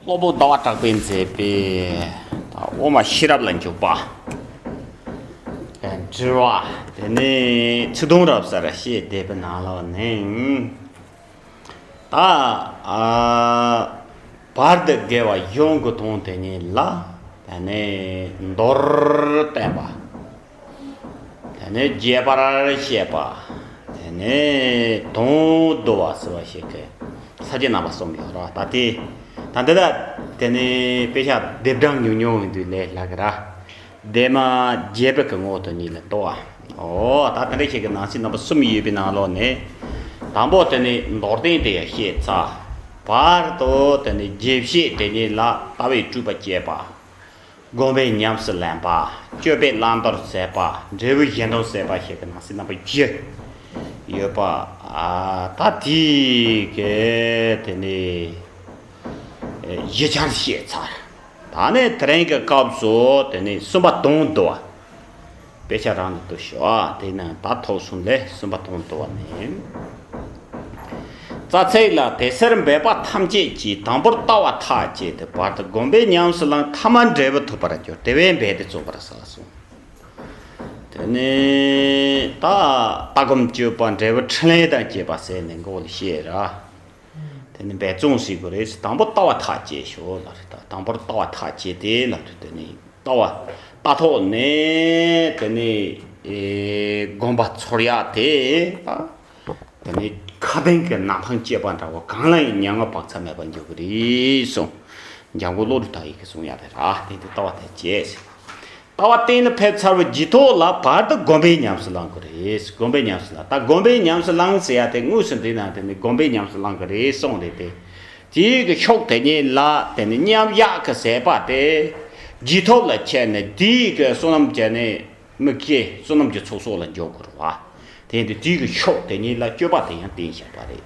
སློབ་བུ་ཟླ་བ་གྲགས་པས་མཛད་པའི། དབུ་མ་ཤེས་རབ་ལ་འཇུག་པ། དྲི་བ། དེ་ནས་ཚིག་དུམ་རབ་གསལ་ར་ཤེས་བཟླས་པའི་ནང་ལོགས་ནས། ད་བར་དུ་དགེ་བ་གཞུང་གི་དོན་དེ་ཉིད་ལ། མདོར་བསྟན་པ། དེ་ནས་རྒྱས་པར་བཤད་པ། དེ་ནས་དོན་བསྡུ་བ་ཟེར་བ་ཞིག་གིས་ས་བཅད་རྣམ་པ་གསུམ་ཡོད་རོ་ད་དེ་དང་འདི་དག་དེ་ནི་དཔེ་ཆ་སྡེབ་གྲངས་ཉུང་ཉུང་ཡིན་དུས་ལས་སླ་གི་ར་སྡེ་མ་རྒྱས་པའི་གི་ངོ་བོ་དོན་གཉིས་ལ་ལྟོས་བ་འོ་ད་དེ་འདྲ་ཞིག་གི་ནང་ཚིག་རྣམ་པ་གསུམ་ཡོད་པའི་ནང་ལོགས་ནས་དང་པོ་དེ་ནི་མདོར་བསྟན་དེ་ཡང་བཤད་ཚ་བར་དུ་དེ་ནི་རྒྱས་བཤད་དེ་ཉིད་ལ་ལྟ་བའི་སྤྲུལ་པ་བསྐྱེད་པ། བསྒོམ་པའི་ཉམས་སུ་ལེན་པ། སྤྱོད་པའི་བླང་དོར་ཟད་པ། འབྲས་བུའི་གཞན་དོན་ཟད་པ་ཞེས་པའི་ནང་གསེས་རྣམ་པ་བཞི་ཡོད་པ། ད་དེ་གའི་དེ་ནས་བཞི་ཆར་བཤད་ཚར། ད་ནི་དེ་རིང་གི་སྐབས་སུ་དེ་ནས་གསུམ་པ་དོན་བསྡུ་བ། དཔེ་ཆ་རང་དུ་བསྡུ་ཞོག་དེ་ནས་དག་ཐོག་གསུམ་ལས་གསུམ་པ་དང་བསྡུ་བ་ནི། རྩ་ཚིག་ལ་དེ་སེར་འབེབས་པ་ཐམས་ཅད་ཀྱིས་དང་པོར་ལྟ་བ་ཐག་བཅད་དེ་བར་དུ་བསྒོམ་པས་ཉམས་སུ་བླངས་ཐ་མ་འབྲས་བུ་ཐོབ་པར་འགྱུར་དེ་བས་འབད་དེ་རྩོམ་པར་བྱ་ལ་གསུངས། དེ་ནས་ལྟ་སྒོམ་སྤྱོད་པ་འབྲས་བུ་ཕྲིན་ལས་དང་བཅས་པ་བསལ་ནས་མགོ་བོ་ལ་བཤད། དེ་ནི་འབད་བརྩོན་བྱེད་དགོས་རེད། དང་པོ་ལྟ་བ་ཐག་བཅད་ཞོར་ལ་རེད། དང་པོར་ལྟ་བ་ཐག་བཅད་དེ་ལ་རེད། དེ་ནི་ལྟ་བ་ལྟ་ཐོག་ནས་དེ་ནི་དགོན་པ་ཚོར་ཡ་དེ་ལ་དེ་ནི་ཁ་དན་གྱི་ནག་ཐང་བཅད་པ་འདྲ་བོ་གང་ལ་ཡང་མྱ་ངན་བག་ཚ་མེད་པར་འགྱུར་གྱི་རེད་གསུངས། འཇང་དགུན་ལོ་རུ་དག་ཡིག་གིས་གསུངས་ཡ་རེད། དེ་ནི་ལྟ་བ་ཐག་བཅད་ཟེར། ལྟ་བ་གཏན་ལ་ཕེབས་ཚར་བའི་རྗེས་ཐོག་ལ་བར་དུ་སྒོམ་པའི་ཉམས་སུ་བླང་གི་རེད་སྒོམ་པའི་ཉམས་སུ་བླང་ད་སྒོམ་པའི་ཉམས་སུ་བླང་ཟེར་ཡ་དེ་དངོས་སུ་འདི་ན་དེ་ནི་སྒོམ་པའི་ཉམས་སུ་བླང་གི་རེད་གསུངས་རེད་དེ། དེའི་གི་ཤོག་དེ་ཉིད་ལ་དེ་ནི་མཉམ་གཞག་གི་ཟད་པ་དེ། རྗེས་ཐོབ་ལ་ཁྱེར་ནས་དེའི་གི་བསོད་ནམས་ཀྱི་ནི་དམིགས་བྱའི་བསོད་ནམས་ཀྱི་ཚོགས་སོགས་ལ་འཇོག་དགོས་རུང་བ། དེ་ནི་དེའི་གི་ཤོག་དེ་ཉིད་ལ་སྤྱོད་པ་དེ་ཡང་བསྟན་བཞག་པ་རེད།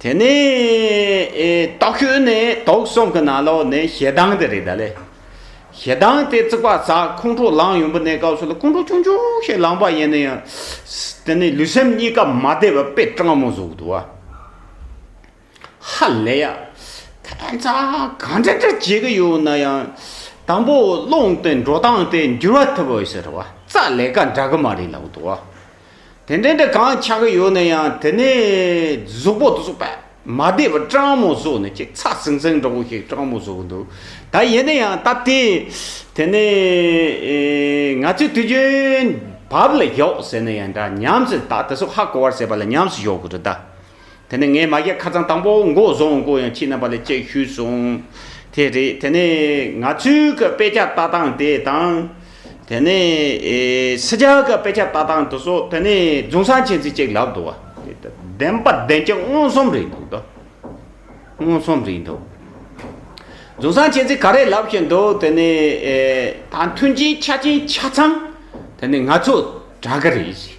དེ་ནས་ལྟོགས་ཁྱོད་ནི་དོག་གསུམ་གྱི་ན་ལོ་ནི་ཞེ་སྡང་དེ་རེད་ད་ལེ། ཞེ་སྡང་དེ་བརྩིགས་པ་ཟ་ཁོང་ཁྲོ་ལངས་ཡོང་པོ་ནས་སྐབས་སུ་ལ་ཁོང་ཁྲོ་ཆུང་ཆུང་ཞིག་ལངས་པ་ཡིན་ན་ཡང། དེ་ནི་ལུས་སེམས་གཉིས་ཀ་མ་བདེ་བའི་དཔེ་སྤྲང་མོ་ཟུག་འདུག་ཨ། ཧ་ལས་ཡ། ད་ཐོག་མཚར་ག་འདྲ་འདྲ་བྱེད་ཀྱི་ཡོད་ན་ཡང། དང་པོ་སློང་དེ་འགྲོ་སྟངས་དེ་འགྱུར་བ་ཐུབ་བོ་ཟེར་བ་རྩ་ལས་ཀ་འདྲ་གི་མ་རེད་ལབ་འདུག་ཨ། དེ་འདྲའི་འདྲ་གང་ཆགས་ཀྱི་ཡོད་ན་ཡང་དེ་ནས་གཟུགས་པོ་དེ་ཚོ་པད་མ་བདེ་བ་སྤྲང་མོ་བཟོ་ནས་ཅིག་ཚག་ཟིང་ཟིང་འདྲ་བོ་ཞིག་སྤྲང་མོ་བཟོ་གི་འདུག་ད་ཡིན་ན་ཡང་སྟབས་བདེ། དེ་ནས་ང་ཚོས་དུས་རྒྱུན་བབ་ལ་ཞོག་ཟེར་ན་ཡང་འདྲ་ཉམས་སུ་ད་དེ་ཚོ་ཧ་གོ་བར་ཟེར་བ་ལ་ཉམས་སུ་ཞོག་གི་རེད་ད། དེ་ནས་ངའི་མ་གཞས་ཁ་ཚང་དང་པོ་མགོ་བཟུང་མགོ་ཡང་ཁྱི་རྣམ་པ་ལས་གཅེས་ཤུལ་བཟུང། དེ་རེད་དེ་ནས་ང་ཚོའི་གི་དཔེ་ཆ་ལྟ་སྟངས་དེ་དང། དེ་ནས་སི་ཇཱ་གི་དཔེ་ཆ་ལྟ་སྟངས་དེ་སོགས་དེ་ནས་རྫུན་བཟང་ཆེན་ཚིག་གཅིག་ལབ་འདུག་བ། བདེན་པ་བདེན་གྱི་མངོན་སུམ་རེད་འདུག་ད། མངོན་སུམ་རེད་འདུག། རྫུན་བཟང་ཆེན་ཚིག་ག་རེ་ལབ་བཞིན་འདུག་དེ་ནས་ད་མཐུན་རྐྱེན་ཆ་རྐྱེན་ཆ་ཚང་དེ་ནས་ང་ཚོ་གྲགས་གི་རེད།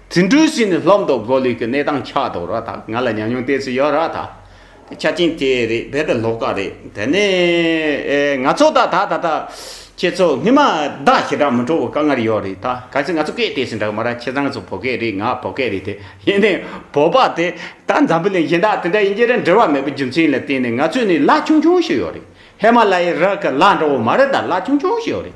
དེ་འདྲུ་བཞིན་ནས་ལྷོ་མདོ་སྒོ་ལུས་ཀྱི་གནས་སྟངས་ཆགས་འདུག་ར་ཐག་ང་ལ་ཉམས་མྱོང་གཏད་སུ་ཡོད་ར་ཐག་དེ་ཆ་རྐྱེན་དེ་རེད་བས་པའི་ལོག་ཀ་རེད་དེ་ནས་ང་ཚོ་ད་ད་ད་ད་ཁྱེད་ཚོ་སྔོན་མ་བདག་ཞེ་དྲག་མི་འགྲོ་བའི་དཀའ་ངར་ཡོད་རེད་ད་གལ་སྲིད་ང་ཚོ་སྐད་གཏད་སུ་འདྲ་གི་མ་ར་ཁྱེད་རང་ཚོ་བོད་སྐད་རེད་ང་བོད་སྐད་རེད་དེ་ཡིན་ནའི་བོད་པ་དེ་ད་འཛམ་བུ་ལས་གཞན་དག་དེ་འདྲ་ཡིན་རྒྱུ་ར་འབྲེལ་བ་མེད་པའི་རྒྱུ་མཚན་ལ་བརྟེན་ནས་ང་ཚོས་ནས་ལ་ཆུང་ཆུང་ཞིག་ཡོད་རེད་ཧེ་མ་ལ་ཡའི་ར་གི་ལ་འདྲ་བོ་མ་རེད་ད་ལ་ཆུང་ཆུང་ཞིག་ཡོད་རེད་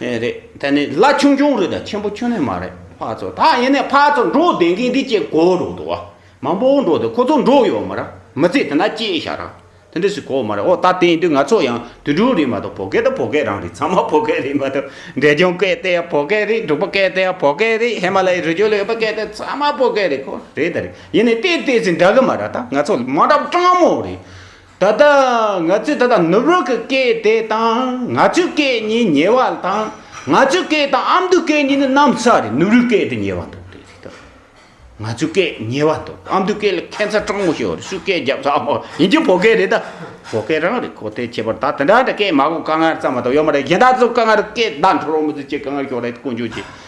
ཨེ་རེད་ད་ནི་བླ་ཆུང་ཆུང་རེད་ད་ཆེན་པོ་ཆུང་ནས་མ་རེད་ཕ་ཚོ་ད་ཡིན་ནས་ཕ་ཚོ་འགྲོ་བསྡད་མཁན་འདི་ཅེས་གོ་རུ་འདུག་བ་མང་པོ་འགྲོ་བསྡད་ཁོ་ཚོ་འགྲོ་ཡོད་མ་ར་མི་ཚེ་དེ་འདྲ་སྐྱེལ་བཞག་ར་དེ་འདྲ་ཞིག་གོ་མ་རེད་འོ་ད་དེང་དུས་ང་ཚོ་ཡང་དུད་འགྲོ་རེད་མ་གཏོགས་བོད་སྐད་ད་བོད་སྐད་རང་རེད་ཚང་མ་བོད་སྐད་རེད་མ་གཏོགས་འབྲས་ལྗོངས་སྐད་དེ་ཡང་བོད་སྐད་རེད་འབྲུག་པ་སྐད་དེ་ཡང་བོད་སྐད་རེད་ཧི་མ་ལ་ཡའི་རི་རྒྱུད་ལ་ཡོད་པ་སྐད་དེ་ཚང་མ་བོད་སྐད་རེད་ཁོ་རེད་ད་རེད་ཡིན་ནས་བལྟས་བལྟས་ཚེ་འདྲ་གི་མ་ར་ད་ང་ཚོ་མ་འདྲ་བ་སྤྲང་མོ་རེད། ད་ལྟ་ང་ཚོས་ད་ལྟ་ནུབ་རོགས་ཀྱི་སྐད་དེ་དང་ང་ཚོའི་སྐད་གཉིས་ཉེ་བ་དང་ང་ཚོའི་སྐད་དང་ཨ་མདོའི་སྐད་གཉིས་ནི་གནམ་ས་རེད་ནུབ་རིའི་སྐད་དེ་ཉེ་བ་འདུག་དེ་རིགས་དང། ང་ཚོའི་སྐད་ཉེ་བ་འདུག་ཨ་མདོའི་སྐད་ལ་ཁྱད་མཚར་སྤྲང་པོ་ཞིག་ཡོད་སུས་སྐད་རྒྱབ་ས་མོ་ཡིན་རྒྱུ་བོད་སྐད་རེད་ད། བོད་སྐད་རང་རེད་གོ་ཐལ་ཁྱད་པར་ད་དེ་འདྲ་འདྲ་སྐད་མ་གོ་དཀའ་ངལ་ཙམ་མ་གཏོགས་ཡོད་མ་རེད་གཞན་དག་ཚོ་དཀའ་ངལ་སྐད་བརྡ་འཕྲོ་རོགས་མི་བཟོ་ཁྱེད་དཀའ་ངལ་ཞོག་རེད་དཀོན་མཆོག་གྱིས།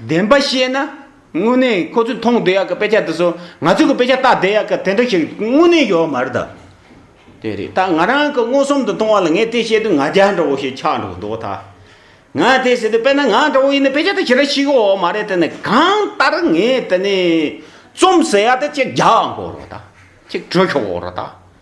བདེན་པ་བཤད་ན། དངོས་གནས་ཁོ་ཚོས་མཐོང་བསྡད་ཡག་གི་དཔེ་ཆ་འདི་ཚོ་ང་ཚོས་ཀྱི་དཔེ་ཆ་བལྟ་བསྡད་ཡག་གི་དེ་འདྲ་ཞིག་དངོས་གནས་ཡོད་མ་རེད་ད། དེ་རེད་ད་ང་རང་གི་མངོན་སུམ་དུ་མཐོང་བ་ལ་ངས་དེ་བཤད་དུས་ང་རྒྱ་འདྲ་བོ་ཞིག་ཆགས་འགྲོ་གི་འདུག་ད། ང་དེ་ཟེར་དུས་དཔེར་ན་ང་འདྲ་བོ་ཡིན་ན་དཔེ་ཆ་དེ་ཇི་འདྲ་ཞིག་ཡོད་མ་རེད་དེ་ནི་གང་ལྟར་ངས་དེ་ནི་རྩོམ་ཟེར་ཡག་དེ་གཅིག་རྒྱག་འགོ་རོགས་ད། གཅིག་བྲོས་ཤོག་འོ་རོགས་ད།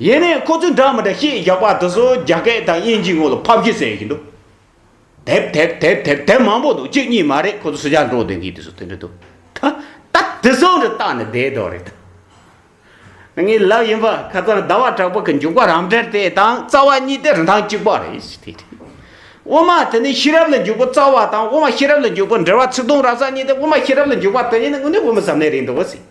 ཡེ་ནས་ཁོ་ཚོའི་འདྲ་མི་འདྲ་ཤེས་བཞག་པ་དེ་ཚོ་རྒྱ་སྐད་དང་དབྱིན་ཇིའི་ངོ་ལ་ཕབ་བཞིན་ཟེར་བཞིན་འདུག་དེབ་དེབ་དེབ་དེབ་དེབ་མང་པོ་འདུག་གཅིག་གཉིས་མ་རེད་ཁོ་ཚོ་སུ་ཇག་འབྲོག་སྡེ་འདིའི་དེ་ཚོ་དེ་འདྲ་འདུག་ད་ད་དེ་ཚོ་འདྲ་བཏགས་ནས་བསྡད་དོགས་རེད་དམ། ངའི་ལབ་ཡིན་པ་ཁ་ཚང་ཟླ་བ་གྲགས་པ་གི་མཇུག་པ་རམ་འདྲེར་དེ་དང་རྩ་བ་གཉིས་དེ་རིན་ཐང་གཅིག་པ་རེད་ཟེར་དེ་དེ། དབུ་མ་དེ་ནི་ཤེས་རབ་ལ་འཇུག་པ་རྩ་བ་དང་དབུ་མ་ཤེས་རབ་ལ་འཇུག་པ་འདྲེ་བ་ཚིག་དུང་ར་ས་གཉིས་དེ་དབུ་མ་ཤེས་རབ་ལ་འཇུག་པ་དེ་གཉིས་ནི་དངོས་གནས་དབུ་མ་ཟབ་གནད་རེད་འདུག་ཟེར།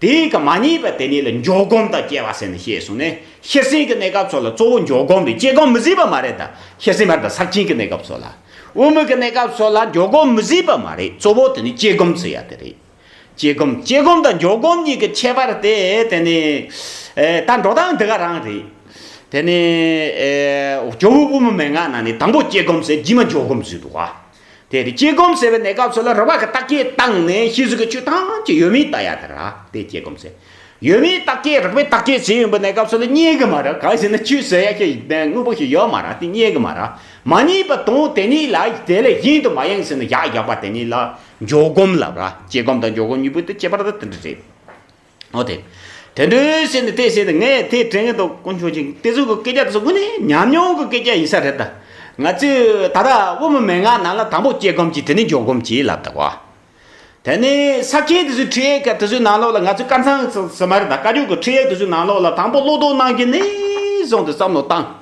དེ་ཡིན་གྱི་མ་རྙེད་པ་དེ་ཉིད་ལ་འཇོག་སྒོམ་དང་སྐྱེ་བ་སེམས་ནི་ཞེས་གསུངས་ནས་ཤེར་ཕྱིན་གྱི་གནས་སྐབས་ཚོགས་ལ་གཙོ་བོ་འཇོག་སྒོམ་པའི་སྐྱེ་སྒོམ་མི་བཟད་པ་མ་རེད་ད་ཤེར་ཕྱིན་བར་དང་ཟག་བཅིངས་ཀྱི་གནས་སྐབས་ཚོགས་ལ་དབུ་མེད་ཀྱི་གནས་སྐབས་ཚོགས་ལ་འཇོག་སྒོམ་མི་བཟད་པ་མ་རེད་གཙོ་བོ་དེ་ནི་སྐྱེ་སྒོམ་ཚུལ་ཡག་དེ་རེད། སྐྱེ་སྒོམ་སྐྱེ་སྒོམ་དང་འཇོག་སྒོམ་གཉིས་ཀྱི་ཁྱད་པར་དེ་དེ་ནི། ད་འགྲོ་སྟངས་འདི་ག་རང་རེད། དེ་ནི། ཇོ་བོའི་དབུ་མའི་མན་ངག་ནང་ནས་དང་པོ་སྐྱེ་སྒོམ་ཟེར་རྗེས་མ་འཇོག་སྒོམ་བཟོས་འདུག་ག། དེ་དེ་སྐྱེ་སྒོམ་ཟེར་བའི་གནས་སྐབས་སུ་ལ་རོལ་བ་གི་རྟགས་ཀྱིས་བརྟགས་ནས་ཤེས་བཟོད་ཀྱི་ཆོས་ཐམས་ཅད་ཡོད་མེད་བརྟགས་ཡ་དེ་ར་དེ་སྐྱེ་སྒོམ་ཟེར། ཡོད་མེད་རྟགས་ཀྱིས་རགས་པའི་རྟགས་ཀྱིས་ཟིན་ཡོད་པའི་གནས་སྐབས་སུ་ལ་རྙེད་གི་མ་ར་གང་ཞིག་ན་ཆོས་ཟེར་ཡ་ཞིག་དངོས་པོ་ཞིག་ཡོད་མ་ར་དེ་རྙེད་གི་མ་ར་མ་རྙེད་པ་དང་དེ་གཉིས་ལ་དེ་ལས་གཞན་དུ་མ་ཡེངས་ཟིན་ན་བཞག་བཞག་པ་དེ་གཉིས་ལ་འཇོག་སྒོམ་ལབ་ར་སྐྱེ་སྒོམ་དང་འཇོག་སྒོམ་གཉིས་པོ་དེ་ཁྱད་པར་དུ་དེ་འདྲ་རེད། ཨོ་དེ། དེ་འདྲའི་བཤད་ནི་དེ་བཤད་དེ་ངས་དེ་དྲན་གྱི་འདུག་དཀོན་མཆོག་ཅིག་དེ་ཚོའི་གི་སྐད་ཆ་དེ་ཚོ་དངོས་ནས་ཉམས་མྱོང་གི་སྐད་ཆ་ཡིན་ས་རེད་ད། ང་ཚོས་ད་ལྟ་དབུ་མའི་མན་ངག་ནང་ལ་དང་པོ་སྐྱེ་སྒོམ་གྱིས་དེ་ནས་འཇོག་སྒོམ་གྱིས་ལབ་གདའ་བ། དེ་ནས་ས་སྐྱའི་དེ་ཚོའི་ཁྲིད་ཡིག་སྐད་དེ་ཚོའི་ནང་ལོགས་ལ་ང་ཚོས་དཀར་མཚང་ཟེར་མ་རེད་ད་བཀའ་བཀྱོན་གྱི་ཁྲིད་ཡིག་དེ་ཚོའི་ནང་ལོགས་ལ་དང་པོ་བློ་དོགས་གནང་གྱི་ནས་བཟུང་དེ་བསམ་བློ་བཏང།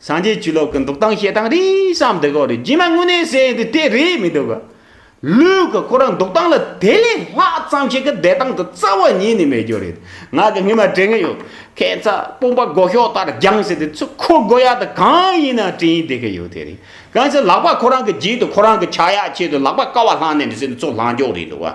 སངས་རྒྱས་ཆོས་ལོག་གི་འདུག་སྟངས་བཤད་སྟངས་རིས་སམ་དེ་ཁོག་རེད་རྗེས་མ་དངོས་གནས་གསལ་ཡིན་དུས་དེ་རེད་མི་འདུག་ག། ལུས་ག་ཁོ་རང་འདུག་སྟངས་ལ་དེ་ལས་ལྷག་ཙམ་ཞིག་གི་བསྡད་སྟངས་དུ་རྩ་བ་ཉིད་ནས་མེད་རྒྱུ་རེད་ང་གི་སྔུན་མ་དྲན་གི་ཡོད། ཁྱེད་ཚ་དཔོན་པ་སྒོ་ཤོག་ལྟར་རྒྱང་ཟེར་དུས་ཚུར་ཁོ་སྒོ་ཡག་དུ་གང་ཡིན་ན་དྲན་ཡིན་བསྡད་གི་ཡོད་དེ་རེད་གང་ཟེར་ལག་པ་ཁོ་རང་གི་རྗེས་དུ་ཁོ་རང་གི་ཕྱག་ཡག་ཆེད་དུ་ལག་པ་ཀ་བ་ལྷང་ནས་འདི་ཟེར་དུས་ཚུར་ལྷང་འགྱོག་རེད་འདུག་ག།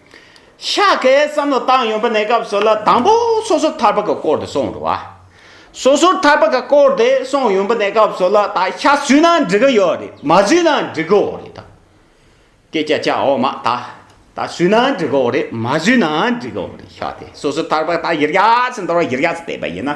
ཤ་ཁའི་བསམ་བློ་བཏང་ཡོང་པ་ནས་སྐབས་སོ་ལ་དང་པོ་སོ་སོར་ཐར་པ་གི་སྐོར་དེ་སོང་འགྲོ་བ། སོ་སོར་ཐར་པ་གི་སྐོར་དེ་སོང་ཡོང་པ་ནས་སྐབས་སོ་ལ་ད་ཤ་བཟོས་ན་འགྲིག་གི་ཡོད་རེད་མ་བཟོས་ན་འགྲིག་གི་འོ་རེད་ད། སྐད་ཆ་ཆ་འོ་མ་ད། ད་བཟོས་ན་འགྲིག་གི་འོ་རེད་མ་བཟོས་ན་འགྲིག་གི་འོ་རེད་ཤ་དེ་སོ་སོར་ཐར་པ་ད་ཡིར་རྒྱ་ཚེ་འདོར་བ་ཡིར་རྒྱ་ཚེ་བསྟེན་པ་ཡིན་ན།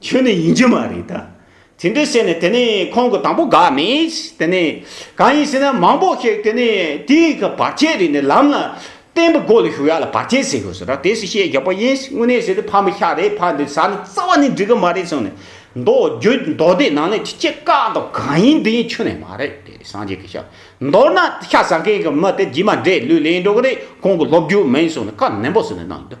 ཁྱོད་ནི་ཡིན་གྱི་མ་རེད་ད། དེ་འདྲ་བྱས་ནས་དེ་ནས་ཁོང་གི་དང་པོ་དགའ་མེད། དེ་ནས་གང་ཡིན་ཟེར་ན་མང་པོ་ཞིག་དེ་ནས་དེའི་གི་བར་ཆད་རིག་ནས་ལམ་ལ་བརྟེན་པའི་སྒོ་ལ་ཞུགས་ཡག་ལ་བར་ཆད་ཟེར་དགོས་ཟེར་ར་དེ་སུ་ཤེས་རྒྱག་པ་ཡིན་དངོས་གནས་ཟེར་དུས་ཕ་མི་ཤ་རེད་ཕ་འདི་བཟའ་ནི་རྩ་བ་ནས་འགྲིག་གི་མ་རེད་གསུངས་ནས་མདོ་རྒྱུད་མདོ་སྡེ་ནང་ནས་ཁྱི་དཀར་དང་གང་ཡིན་འདི་ཡིན་ཆོས་ནས་མ་རེད་དེ་སངས་རྒྱས་ཀྱི་ཞབས་མདོར་ན་ཤ་ཟ་མཁན་གྱི་མི་དེ་རྗེས་མ་འདྲེ་ལུས་ལེན་འགྲོ་གི་རེད་ཁོང་གི་སློབ་རྒྱུ་མིན་གསུངས་ནས་བཀའ་ནན་པོ་ཟེར་ནས་གནང་ཡོད།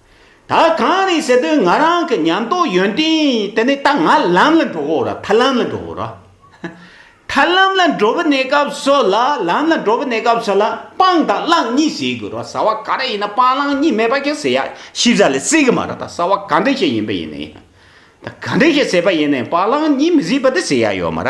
ད་གང་རེད་ཟེར་དུས་ང་རང་གི་ཉམས་རྟོགས་ཡོན་ཏན་དེ་ནི་ད་ང་ལམ་ལ་འགྲོ་བོ་ར་ཐར་ལམ་ལ་འགྲོ་བོ་ར་ཐར་ལམ་ལ་འགྲོ་བོ་གནས་སྐབས་སུ་ལ་ལམ་ལ་འགྲོ་བོ་གནས་སྐབས་སུ་ལ་སྤང་དང་བླང་གཉིས་བྱེད་དགོས་ར་ཟ་བ་ག་རེ་ཡིན་ན་སྤང་བླང་གཉིས་མེད་པ་ཁྱེད་ཟེར་ཡ་ཤི་བཟའ་ལས་སྲིད་གི་མ་ར་ད་ཟ་བ་ག་འདྲེ་ཞིག་ཡིན་པ་ཡིན་ན་ཡིན་ད་ག་འདྲེ་ཞིག་ཟེར་པ་ཡིན་ན་ཡིན་སྤང་བླང་གཉིས་མི་སྲིད་པ་དེ་ཟེར་ཡ་ཡོད་མ་ར།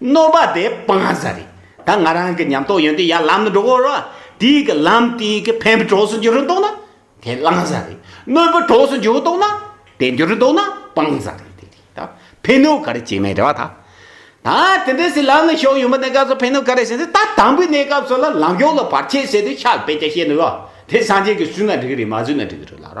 གནོད་པ་དེ་སྤང་ས་རེད། ད་ང་རང་གི་ཉམས་རྟོགས་ཡོན་ཏན་ཡར་ལམ་ནི་འགྲོ་འོར། དེའི་གི་ལམ་དེའི་གི་ཕན་བུ་གྲོགས་སུ་འགྱུར་རུ་འདོག་ན། དེ་བླང་ས་རེད། གནོད་བུ་གྲོགས་སུ་འགྱུར་འདོག་ན། དེ་འགྱུར་རུ་འདོག་ན་སྤང་ས་རེད། དེ་རེད་ད། ཕན་གནོད་ག་རེ་བྱེད་མེད་རེད་བ་ད། ད་དེ་འདྲས་སི་ལམ་ལ་ཞོག་ཡོན་པ་གནས་སྐབས་སུ་ཕན་གནོད་ག་རེ་བྱེད་ཟེར་ད་དང་པོའི་གནས་སྐབས་སུ་ལ་ལམ་ཞོག་ལ་བར་ཆད་བསལ་དུས་ཤ་བེད་ཀྱ་བཤད་འདུག་བ། དེ་སངས་རྒྱས་ཀྱི་བསུན་ན་འགྲིག་རེད་མ་བསུན་ན་འགྲིག་རེད་ལགས་ར།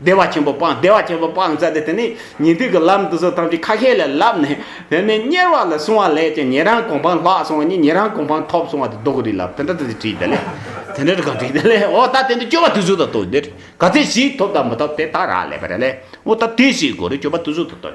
བདེ་བ་ཆེན་པོ་སྤངས་བདེ་བ་ཆེན་པོ་སྤངས་ས་དེ་དེ་ནི་ཉིན་ཐིག་གི་ལམ་དུ་སོ་ཐམས་ཅད་ཁ་ཤས་ལས་བསླབས་ནས་དེ་ནས་གཉེར་བ་ལ་བསྲུང་བ་ལས་ཀྱང་ཉན་རང་གོ་འཕང་ལྷག་སོང་བ་ཉིད་ཉན་རང་གོ་འཕང་ཐོབ་སོང་བ་དེ་རྡོ་གུ་རི་ལ་དེ་འདྲ་དེ་དྲིས་དེ་ལས་དེ་འདྲ་གང་དྲིས་དེ་ལས་འོ་ད་དེ་འདྲ་སྤྱོད་པ་དུས་ཚོད་དང་བསྟུན་ཏེ་ག་ཚད་ཞིག་ཐོབ་དང་མི་ཐོབ་དེ་ད་རག་ལས་པ་རེད་ལས་འོ་ད་དེ་ཞིག་གོ་རེ་སྤྱོད་པ་དུས་ཚོད་དང་བསྟུན་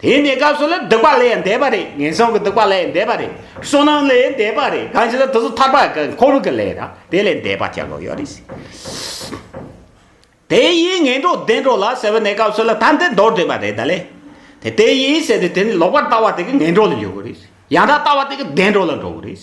དེ་འདི་སྐབས་སུ་ལ་སྡིག་པ་ལས་འདས་པ་རེད་ངན་སོང་གི་སྡིག་པ་ལས་འདས་པ་རེད་བསོད་ནམས་ལས་འདས་པ་རེད་གང་ཞིག་ལ་དེ་ཚོ་ཐར་པ་གི་འཁོར་ལོ་གི་ལས་ར་དེ་ལས་འདས་པ་ཅག་གོ་ཡོད་རེད། དེ་ཡིས་ངན་འགྲོ་བདེན་འགྲོ་ལ་ཟེར་བ་ནི་སྐབས་སུ་ལ་ཐམས་ཅད་འདོར་འདོད་པ་རེད་ད་ལས་དེ་དེ་ཡིས་ཟེར་ཏེ་དེ་ནི་ལོག་པར་ལྟ་བ་དེ་གི་ངན་འགྲོ་ལ་འཇུག་གི་རེད། ཡང་དག་ལྟ་བ་དེ་གི་བདེ་འགྲོ་ལ་འགྲོ་བ་རེད།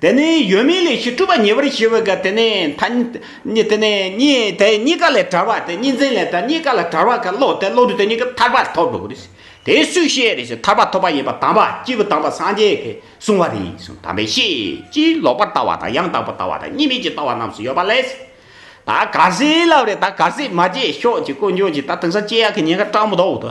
དེ་ནི་ཡོད་མིན་ལས་ཞི་གྲུབ་པ་ཉེ་བར་ཞི་བའི་སྐབས་དེ་ནི་ཐ་སྙད་དེ་ནི་གཉིས་དེ་གཉིས་ཀ་ལས་གྲོལ་བ་དེ་གཉིས་འཛིན་ལས་དེ་གཉིས་ཀ་ལས་གྲོལ་བ་གི་བློ་དེ་བློ་གྲོས་དེ་གཉིས་ཀ་ཐར་པར་ཐོབ་འགྲོ་བ་རེད། དེ་སུས་ཤེས་རེད་ཐར་པ་ཐོབ་པ་ཡིན་པ་དམ་པ་སྤྱི་བོ་དམ་པ་སངས་རྒྱས་ཀྱིས་གསུངས་བ་རེད་གསུངས་དམ་པས་ཤེས་ཀྱིས་ལོག་པར་ལྟ་བ་དང་ཡང་དག་པར་ལྟ་བ་དང་གཉིས་མེད་ཀྱི་ལྟ་བ་རྣམས་སུ་ཡོད་པ་ལས། ད་ག་ཟེ་ལབ་རེད་ད་ག་ཟེ་མ་བརྗེད་ཤོག་ཅིག་དཀོན་མཆོག་ཅིག་ད་དེང་སང་སྐྱེ་ཡག་གི་ཉེན་ཁ་སྤྲང་པོ་དོག་ཏུ་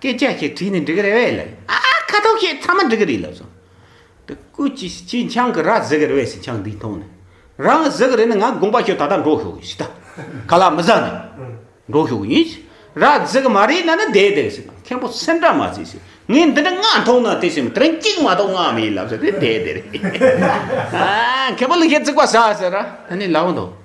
སྐད་ཆ་ཞིག་དྲིས་ནས་འགྲིག་གི་རེད་བས་ལབ། ཨ་ཨ་ཁ་དོག་ཞིག་ཚང་མ་འགྲིག་གི་རེད་ལབ་སོང། དེ་སྐུ་ཅི་ཞིག་ཅིག་འཆང་གི་ར་བཟི་གི་རེད་བས་སི་འཆང་འདི་མཐོང་ནས། རང་གི་བཟི་གི་རེད་ན་ང་དགོངས་པ་ཞུ་ད་ལྟ་འགྲོ་ཤོག་གི་སི་ད་ག་ལ་མི་བཟང་ནས། འགྲོ་ཤོག་གི་ཡིན་སི། ར་བཟི་གི་མ་རེད་ན་ནི་བསྡད་བསྡད་གི་སི་དང་མཁན་པོ་སེམས་འདྲ་མ་བྱེད་སི། ངས་འདི་འདྲ་སྔགས་མཐོང་ན་དེ་སེམས་མི་དྲན་གཅིག་མ་གཏོགས་སྔགས་མེད་ལབ་སོང་དེ་བསྡད་བསྡད་རེད། མཁན་པོ་ལུག་ཤད་བརྩིགས་པ་ཟ་ཟེར་ར་ད་ནི་ལབ་འདུག།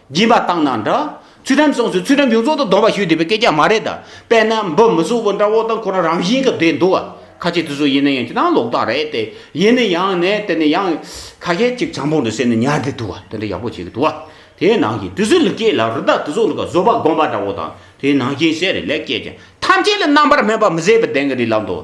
སྦྱིན་པ་བཏང་ན་འདྲ། ཚུལ་ཁྲིམས་སོང་ཚུལ་ཚུལ་ཁྲིམས་ཡོངས་རྫོགས་དུ་སྡོམ་པ་ཞུས་བསྡད་པའི་སྐད་ཆ་མ་རེད་ད། དཔེར་ན་འབུ་མི་གཟུགས་པོ་འདྲ་བོ་དང་ཁོ་རང་རང་བཞིན་གྱི་བསྡད་འདུག་ཁ་ཆེ་དུས་སུ་ཡིན་ན་ཡང་ཅི་ཐང་ལོག་རྟགས་རེད་དེ། ཡིན་ན་ཡང་ནས་དེ་ནས་ཡང། ཁ་ཞེ་གཅིག་ཆང་བུང་དུ་བསྲེས་ནས་ཉར་བསྡད་འདུག་དེ་འདྲ་ཡག་པོ་བྱེད་ཀྱི་འདུག་དེའི་ནང་བཞིན་དུས་སུ་ལུས་སྐྱེས་ལ་རི་དྭགས་དུས་སུ་ལུག་གཟོ་པ་སྒོམ་པ་འདྲ་བོ་དང་དེའི་ནང་བཞིན་ཟས་རེ་ལས་སྐྱེས་ཀྱང་ཐམས་ཅད་ལ་རྣམ་པར་སྨིན་པ་མི་བཟད་པའི་གདེང་གི་རི་ལ་འདུག།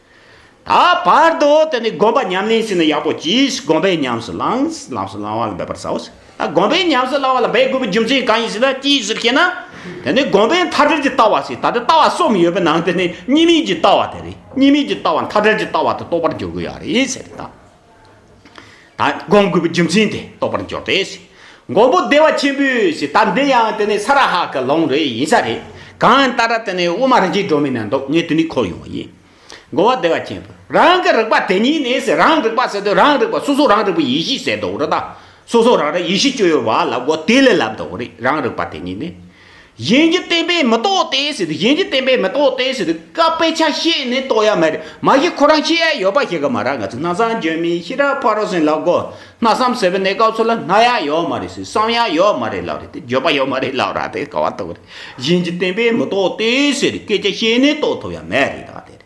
ད་བར་དུ་དེ་ནས་དགོན་པ་ཉམས་ལེན་བྱས་ན་ཡག་པོ་གྱིས་དགོན་པའི་ཉམས་སུ་བླངས་ལམས་སུ་བླང་བ་ལ་འབད་པར་བྱའོ། ད་དགོན་པའི་ཉམས་སུ་བླང་བ་ལ་འབད་དགོས་པའི་རྒྱུ་མཚན་གང་ཡིན་ཞེ་ན་ཅིའི་ཕྱིར་ཞེ་ན། དེ་ནི་དགོན་པའི་མཐའ་བྲལ་གྱི་ལྟ་བ་ཞིག་ད་ལྟ་ལྟ་བ་གསུམ་ཡོད་པའི་ནང་དེ་ནི་གཉིས་མེད་ཀྱི་ལྟ་བ་དེ་རེད་གཉིས་མེད་ཀྱི་ལྟ་བ་མཐའ་བྲལ་གྱི་ལྟ་བ་དེ་རྟོགས་པར་འགྱུར་དགོས་ཡ་རེད་ཟེར་དང། སྒོམ་དགོས་པའི་རྒྱུ་མཚན་དེ་རྟོགས་པར་འགྱུར་ཏེ། མགོན་པོ་བདེ་བ་ཆེན་པོས་ད་འདི་ཡང་དེ་ནི་ས་ར་ཧ་ཀའི་ལུང་རེ་ཡིན་ས་རེད། གང་ལྟར་དེ་ནི་དབུ་མ་རིན་ཆེན་སྒྲོན་མེ་ནས་འདུག་ངས་དུས་ནི་འཁོར་ཡོང་བ་ཡིན། མགོན་བ་བདེ་བ་ཆེན་པོས་རང་གི་རིག་པ་དེ་ཉིད་ནི་རང་རིག་པ་ཟེར་དུས་རང་རིག་པ་སོ་སོ་རང་རིག་པའི་ཡེ་ཤེས་ཟེར་དུས་རི་དྭགས་སོ་སོ་རང་རིག་ཡེ་ཤེས་སྤྱོད་ཡོད་པ་ལ་གོ་དེ་ལས་ལབ་འདུག་རེད་རང་རིག་པ་དེ་ཉིད་ནི། གཞན་གྱི་བསྟན་པས་མི་རྟོགས་ཏེ་ཟེར་དུས་གཞན་གྱི་བསྟན་པས་མི་རྟོགས་ཏེ་ཟེར་དུས་སྐབས་དཔེ་ཆ་ཤེས་ནས་རྟོགས་ཡ་མེད་རེད་མ་གཞི་ཁོ་རང་ཤེས་ཡ་ཡོད་པ་ཞིག་གི་མ་རེད་ང་ཚོ་གནའ་བཟང་འཇོན་མིའི་ཤི་ར་ཕ་རོ་སེང་ལགས་མགོ་སྣ་བསམ་ཟེར་བའི་གནས་སྐབས་སུ་ལ་སྣ་ཡ་ཡོད་མ་རེད་ཟེར་བསམ་ཡ་ཡོད་མ་རེད་ལབ་རེད་དེ་འགྱོད་པ་ཡོད་མ་རེད་ལབ་ར་དེ་ག་བ་ཐུབ་རེད་གཞན་གྱི་བསྟན་པས་མི་རྟོགས་ཏེ་ཟེར་དུས་སྐད་ཆ་ཤེས་ནས་རྟོགས་ཐུབ་ཡ་མེད་རེད་ད་དེ་རེད།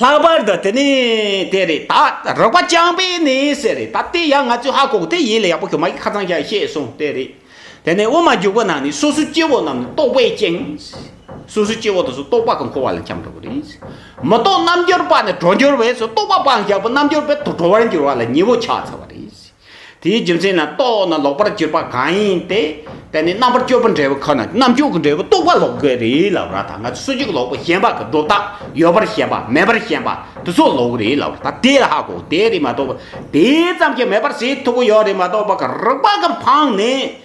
ལྷག་པར་དུ་དེ་ནི་དེ་རེད་ད། རོགས་པ་རྐྱང་པས་ནི་ཟེར་རེད་ད། དེ་ཡང་ང་ཚོས་ཧ་གོ་གོ་དེ་ཡིད་ལ་ཡག་པོ་གྱོན་མ་གིས་ཁ་ཚང་བཞག་ཤེས་སོང་དེ་རེད། དེ་ནས་དབུ་མ་རྒྱུག་པ་ནང་ནས་སོ་སོའི་སྐྱེ་བོ་རྣམས་ནི་རྟོག་པས་བཅིངས། སོ་སོའི་སྐྱེ་བོ་དེ་ཚོ་རྟོག་པ་གི་འཁོར་བ་ལ་འཁྱམས་འགྲོ་གི་རེད། མི་རྟོག་རྣམ་འབྱོར་པ་ནི་གྲོགས་འབྱོར་བས་སུ་རྟོག་པ་སྤངས་བཞག་པས་རྣམ་འབྱོར་པའི་ཐོག་གྲོགས་བར་འགྱུར་བ་ལ་ཉེ་བོ་ཆགས་ཚར་བ་རེད། དེའི་རྒྱུ་མཚན་ནི་རྟོགས་ན་ལོག་པར་གྱུར་པ་གང་ཡིན་དེ་དེ་ནི་རྣམ་པར་གཅོད་པ་འབྲས་བུ་ཁོ་ན་རྣམ་གཅོད་ཀྱི་འབྲས་བུ་རྟོགས་པ་ལོག་གི་རེད་ལབ་ར་ད་ང་ཚོས་སུ་གཅིག་ལོག་པའི་ཞེན་པ་གི་སྒྲོ་བཏགས་ཡོད་པར་ཞེན་པ་མེད་པར་ཞེན་པ་དེ་ཚོ་ལོག་གི་རེད་ལབ་ར་ད་དེ་ཧ་གོ་དེ་རེད་མ་གཏོགས་པ་དེ་ཙམ་གྱིས་མེད་པར་བྱེད་ཐུབ་ཀྱི་ཡོད་རེད་མ་གཏོགས་པ་གི་རིག་པ་གི་འཕང་ནས་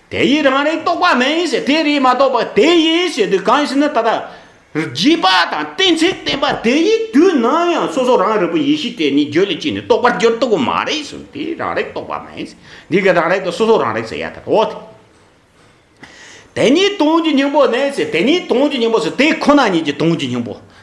དེ་ཡིས་རང་རེའི་རྟོགས་པ་མེད་ཡིན་ཞེས་དེ་རེས་མ་རྟོགས་པར་དེ་ཡིན་ཞེས་དུས་གང་ཞིག་ན་ད་ལྟ། བརྒྱུད་པ་དང་གཏན་ཚིགས་བསྟན་པ་དེ་ཡི་དུས་ན་ཡང་སོ་སོ་རང་རེ་བུ་ཡེ་ཤེས་དེ་ཉིད་རྒྱུ་ལས་སྐྱེས་ནས་རྟོགས་པར་འགྱུར་ཐུབ་པ་མ་རེད་གསུངས་དེ་རང་རེའི་རྟོགས་པ་མེད། འདི་ག་རང་རེ་དང་སོ་སོ་རང་རེ་ཟེར་ཡ་ད་དོ། དེ་ཉིད་དོན་གྱི་སྙིང་པོ་ནས་ཞེས་དེ་ཉིད་དོན་གྱི་སྙིང་པོ་སོགས་དེ་ཁོ་ན་ཉིད་ཀྱི་དོན་གྱི་སྙིང་པོ་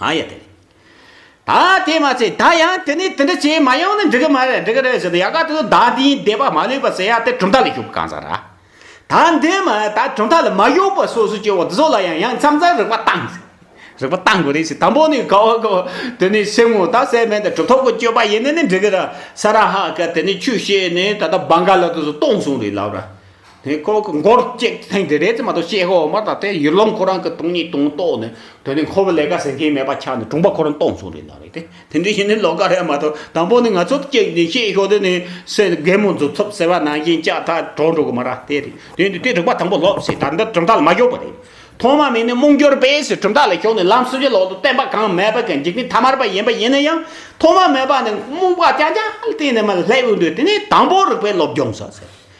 ཨ་ཡ་དེ། ད་དེ་མ་ཚད་ད་ཡང་དེ་ནས་དེ་འདྲ་བྱས་མ་ཡོང་ནི་འགྲིག་གི་མ་རེད་འགྲིག་གི་རེད་ཟེར་ཏེ་ཡག་ག་དེ་ཚོ་ད་འདིའི་སྡེ་པ་མ་ལུས་པ་ཟེར་ཡག་དེ་གྲུབ་མཐའ་ལ་ཞུགས་གང་ཟག་ར། ད་འདི་མ་ད་གྲུབ་མཐའ་ལ་མ་ཞུགས་པར་སོ་སོའི་སྐྱེ་བོ་འདི་ཚོ་ལ་ཡང་ཡང་མཚམས་མཚམས་རིག་པ་གཏང། རིག་པ་གཏང་དགོས་རེད་ཟེར་དང་པོ་ནས་དགའ་བ་དགའ་བ་དེ་ནས་སེམས་ངོ་ད་སེམས་མེད་ད་གྲུབ་ཐོབ་ཀྱི་སྤྱོད་པ་ཡིན་ནི་ནི་འགྲིག་གི་ར་ས་ར་ཧ་ཀ་དེ་ནས་ཆུ་བཤས་ནས་ད་ད་བང་ག་ལ་དེ་ཚོ་གཏོང་སོང་རེད་ལབ་ར། དེ་ཁོ་གི་མགོར་གཅིག་ཐེངས་དེ་རེད་ཙམ་མ་གཏོགས་ཤེས་ཤོག་མ་ད་དེ་ཡུལ་ལུང་ཁོ་རང་གི་དུང་ཉིད་དུང་རྟོགས་ནས་དོན་དེ་ཁོ་བོ་ལས་ཀ་ཟེར་མཁན་མེད་པ་ཆགས་ནས་དྲུང་པ་ཁོ་རང་རྟོགས་མཚུངས་རེད་ན་རེད་དེ་དེ་འདྲའི་ཞིག་ནི་ལོ་ཀ་རེད་མ་གཏོགས་དང་པོ་ནི་ང་ཚོ་གཅིག་ནས་ཤེས་ཤོག་དེ་ནི་སེ་རྒན་མོ་མཛོད་ཐུབ་ཟེར་བ་ནང་བཞིན་ལྕགས་ཐག་གྲོགས་འགྲོ་གི་མ་རེད་དེ་རེད་དེ་འདི་དེ་རིག་པ་དང་པོ་སློབ་ཟེར་ད་འདི་གྲུབ་མཐའ་ལ་མ་ཞོག་པ་རེད་ཐོག་མ་མེད་ནས་རྨོངས་གྱུར་པས་ཟེར་གྲུབ་མཐའ་ལ་ཞོག་ནས་ལམ་སུ་ཇི་ལོག་ཏུ་བསྟན་པ་གང་མེད་པ་གི་འཇིག་རྟེན་ཐ་མར་པ་ཡིན་པ་ཡིན་ན་ཡང་ཐོག་མ་མེད་པ་ནས་རྨོངས་པ་ཅག་ཅག་གཏན་ནས་མ་སླེབས་འདོད་དེ་ནི་དང་པོ་རིག་པའི་སློབ་སྦྱོང་ཟ་ཟེར་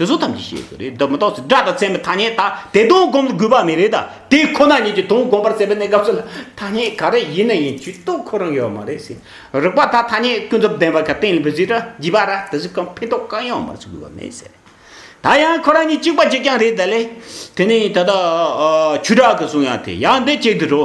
དེ་ཚོ་ཐམས་ཅད་ཤེས་དགོས་རེད་འདི་མི་རྟོགས་སུ་སྒྲ་དང་ཚད་མའི་ཐ་སྙད་དག་དེ་དོན་བསྒོམ་དགོས་པ་མེད་རེད་ད་དེ་ཁོ་ན་ཉིད་ཀྱི་དོན་བསྒོམ་པར་བྱེད་པའི་གནས་སྐབས་སུ་ལ་ཐ་སྙད་ག་རེ་ཡིན་ན་ཡིན་ཇུས་གཏོགས་ཁོ་རང་ཡོད་མ་རེད་ཟེར་རིག་པ་དག་ཐ་སྙད་ཀུན་རྫོབ་བདེན་པ་ག་གཏན་ལ་འབེབས་རྒྱུ་ར་བགྱིས་པ་ར་དེ་ཚོ་གང་ཕན་ཐོག་གང་ཡོང་མར་བྱེད་དགོས་པ་མེད་ཟེར་ད་ཡང་ཁོ་རང་ཉིད་གཅིག་པ་གཅིག་རྐྱང་རེད་ད་ལས་དེ་ནས་ད་ད་ཆུ་བྲག་གི་གསུང་ཡང་དེ་ཡང་འདི་གཅིག་དུ་འགྲོ།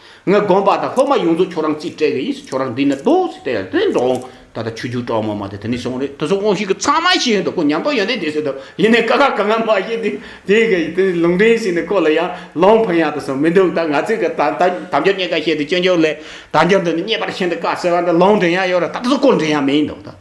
ངས་དགོངས་པ་དང་སློབ་མ་ཡོངས་རྫོགས་ཁྱོད་རང་རྩིས་སྤྲད་གི་ཡིན་ཁྱོད་རང་འདི་ནས་ལྟོས་ཟེར་དེ་ཡང་དེ་འགྲོ་འོང་ད་ལྟ་ཆུ་རྒྱུག་དྲག་མོ་མ་དེ་དེ་ནས་སོང་རེད་དེ་སོང་ཁོང་ཞིག་གི་ཚང་མ་ཤེས་ཡོད་འདུག་ཁོ་ཉམས་རྟོགས་ཡོད་འདུག་དེ་ཟེར་དུས་ཡིན་ནས་ཀ་ཁ་གང་ཡང་མ་ཤེས་དུས་དེ་གི་དེ་ལུང་འདྲེན་ཟེར་ནས་ཁོ་ལ་ཡང་ལོང་ཕན་ཡང་དུ་སོང་མི་འདུག་ད་ང་ཚོས་གི་ད་ད་དམ་ཅོག་རྙེད་ཀ་བཤད་དུས་སྐྱོན་ཅོག་ལས་དམ་ཅོག་འདི་ནི་རྙེད་པར་ཤིན་ཏུ་དཀའ་ཟེར་བ་འདི་ལོང་འདྲེན་ཡང་ཡོད་རེད་ད་དུ་སྐོར་འདྲེན་ཡང་མེད་འདུག་ད།